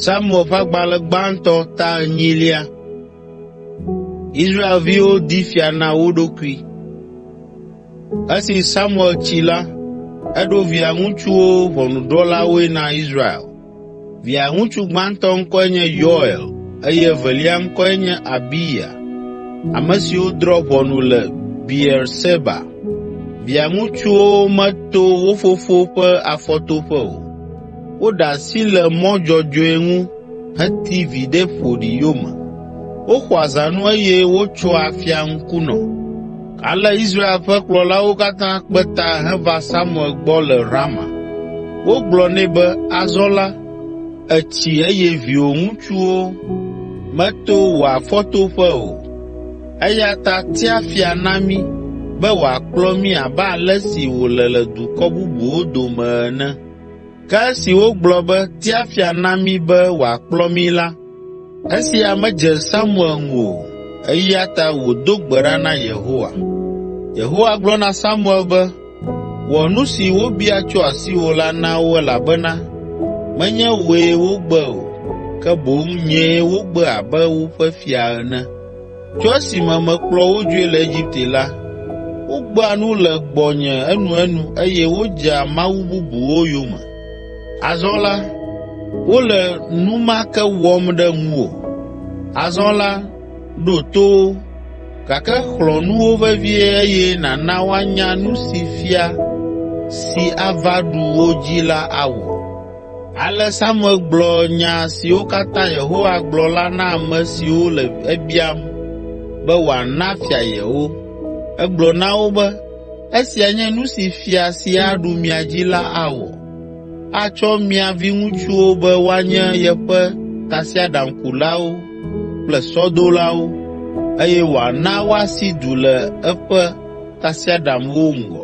Samuel ƒe agbalẽ gbãtɔ ta enyilia. Israelviwo di fia na wo ɖokui. Esi Samuel tsi la, eɖo via ŋutsuwo ʋɔnudrɔ̃lawoe na Israel. Via ŋutsu gbãtɔ ŋkɔe nye Yoel eye evelia ŋkɔe nye Abiya, ame siwo drɔ̃ ʋɔnu le Beerseba. Via ŋutsuwo meto wo fofo ƒe afɔtoƒe o. Woɖe asi le mɔ dzɔdzɔe ŋu heti viɖe ƒoɖi yome. Woxɔa zãnu eye wotsoa afia ŋkunɔ. Ale Israel ƒe kplɔlawo katã kpe ta heva Samuel gbɔ le Rama. Wogblɔ nɛ be, “Azɔ la, ètsi eye viwò ŋutsuwo meto wò afɔtoƒe o. Eya ta tia fia na mí be wòakplɔ mí abe ale si wòle le dukɔ bubuwo dome ene.” Ke esi wogblɔ be, “Tia fia na mí be wòakplɔ mí” la, esia medze Samuel ŋu o, eya ta wòdo gbe ɖa na Yehowa. Yehowa gblɔ na Samuel be, “Wɔ nu si wobia tso asiwò la na wo elabena menye wòe wogbe o, ke boŋ nyee wogbe abe woƒe fia ene. Tso esime mekplɔ wo dzoe le Egipte la, wogbea nu le gbɔnye enuenu eye wodzea mawu bubuwo yome. Azɔ la, wole nu ma ke wɔm ɖe ŋuwò. Azɔ la, ɖo to wo, gake xlɔ̃ nu wo vevie eye nàna woanya nu si fia si ava ɖu wo dzi la awɔ.” Ale Samuel gblɔ nya siwo katã Yehowa gblɔ la na ame siwo le ebiam be wòana fia yewo. Egblɔ na wo be, “Esia nye nu si fia si aɖu mia dzi la awɔ. Atsɔ mia viŋutsuwo be woanye yeƒe tasiaɖamkulawo kple sɔdolawo eye wòana woasi du le eƒe tasiaɖamwo ŋgɔ.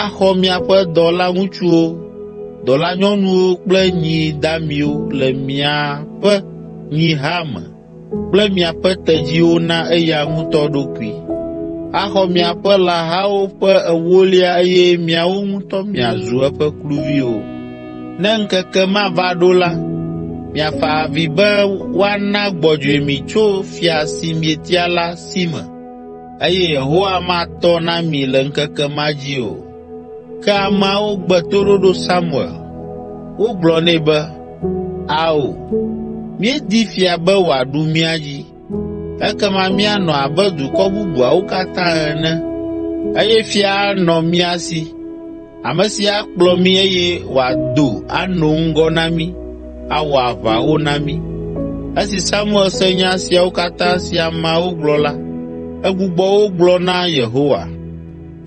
Axɔ miaƒe dɔlaŋutsuwo, dɔlanyɔnuwo kple nyi damiwo le miaƒe nyiha me kple miaƒe tedziwo na eya ŋutɔ ɖokui. Axɔ miaƒe lãhawo ƒe ewolia eye miawo ŋutɔ miazu eƒe kluviwo. Ne ŋkeke ma va ɖo la, miafa avi be woana gbɔdzɔe mi tso fia si mietia la si me. Eye Yehowa matɔ na mi le ŋkeke ma dzi o. Ke ameawo gbe toɖoɖo Samuel. Wogblɔ nɛ be, “Ao, míedi fia be wòaɖu mía dzi. Ekema míanɔ abe dukɔ bubuawo katã ene, eye fia anɔ mía si.” Ame si akplɔ mí eye wòado ano ŋgɔ na mí, awɔ aʋawo na mí. Esi Samuel se nya siawo katã si ameawo gblɔ la, egbugbɔ wo gblɔ na Yehowa.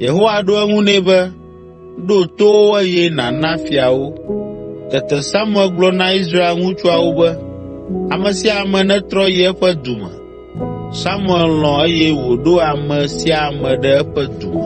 Yehowa ɖo eŋu nɛ be, “Ɖo to wo eye nàna fia wo.” Tete Samuel gblɔ na Israel ŋutsuawo be, “Ame sia ame netrɔ yi eƒe du me.” Samuel lɔ̃ eye wòɖo ame sia ame ɖe eƒe du me.